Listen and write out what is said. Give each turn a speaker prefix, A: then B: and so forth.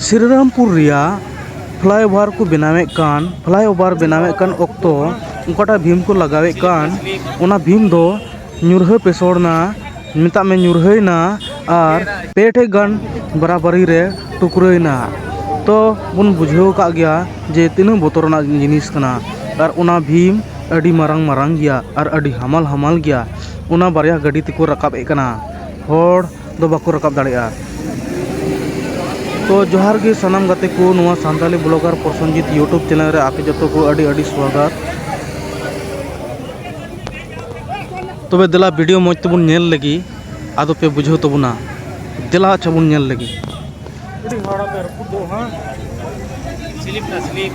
A: ᱥᱨᱤᱨᱟᱢᱯᱩᱨ ᱨᱮᱭᱟᱜ ᱯᱷᱞᱟᱭᱳᱵᱷᱟᱨ ᱠᱚ ᱵᱮᱱᱟᱣᱮᱫ ᱠᱟᱱ ᱯᱷᱞᱟᱭᱳᱵᱷᱟᱨ ᱵᱮᱱᱟᱣᱮᱫ ᱠᱟᱱ ᱚᱠᱛᱚ ᱚᱠᱟᱴᱟᱜ ᱵᱷᱤᱢ ᱠᱚ ᱞᱟᱜᱟᱣᱮᱫ ᱠᱟᱱ ᱚᱱᱟ ᱵᱷᱤᱢ ᱫᱚ ᱧᱩᱨᱦᱟᱹ ᱯᱮᱥᱚᱲ ᱮᱱᱟ ᱢᱮᱛᱟᱜ ᱢᱮ ᱧᱩᱨᱦᱟᱹᱭᱮᱱᱟ ᱟᱨ ᱯᱮ ᱴᱷᱮᱱ ᱜᱟᱱ ᱵᱟᱨᱟᱵᱟᱹᱨᱤ ᱨᱮ ᱴᱩᱠᱨᱟᱹᱭᱮᱱᱟ ᱛᱚ ᱵᱚᱱ ᱵᱩᱡᱷᱟᱹᱣ ᱟᱠᱟᱫ ᱜᱮᱭᱟ ᱡᱮ ᱛᱤᱱᱟᱹᱜ ᱵᱚᱛᱚᱨᱟᱱᱟᱜ ᱡᱤᱱᱤᱥ ᱠᱟᱱᱟ ᱟᱨ ᱚᱱᱟ ᱵᱷᱤᱢ ᱟᱹᱰᱤ ᱢᱟᱨᱟᱝ ᱢᱟᱨᱟᱝ ᱜᱮᱭᱟ ᱟᱨ ᱟᱹᱰᱤ ᱦᱟᱢᱟᱞ ᱦᱟᱢᱟᱞ ᱜᱮᱭᱟ ᱚᱱᱟ ᱵᱟᱨᱭᱟ ᱜᱟᱹᱰᱤ ᱛᱮᱠᱚ ᱨᱟᱠᱟᱵᱮᱫ ᱠᱟᱱᱟ ᱦᱚᱲ ᱫᱚ ᱵᱟᱠᱚ ᱨᱟᱠᱟᱵ ᱫᱟᱲᱮᱭᱟᱜᱼᱟ ᱛᱚ ᱡᱚᱦᱟᱨ ᱜᱮ ᱥᱟᱱᱟᱢ ᱜᱟᱛᱮ ᱠᱚ ᱱᱚᱣᱟ Santali blogger Prasenjit YouTube channel ᱨᱮ ᱟᱯᱮ ᱡᱚᱛᱚ ᱠᱚ ᱟᱹᱰᱤ ᱟᱹᱰᱤ ᱥᱣᱟᱜᱟᱛ ᱛᱚᱵᱮ ᱫᱮᱞᱟ ᱵᱷᱤᱰᱤᱭᱳ ᱢᱚᱡᱽ ᱛᱮᱵᱚᱱ ᱧᱮᱞ ᱞᱟᱹᱜᱤᱫ ᱟᱫᱚ ᱯᱮ ᱵᱩᱡᱷᱟᱹᱣ ᱛᱟᱵᱚᱱᱟ ᱫᱮᱞᱟ ᱟᱪᱪᱷᱟ ᱵᱚᱱ ᱧᱮᱞ ᱞᱟᱹᱜᱤᱫ ᱟᱹᱰᱤ ᱦᱚᱲ ᱟᱯᱮ ᱨᱟᱹᱯᱩᱫ ᱫᱚ ᱦᱟᱸᱜ ᱥᱤᱞᱤᱯ ᱱᱟ ᱥᱤᱞᱤᱯ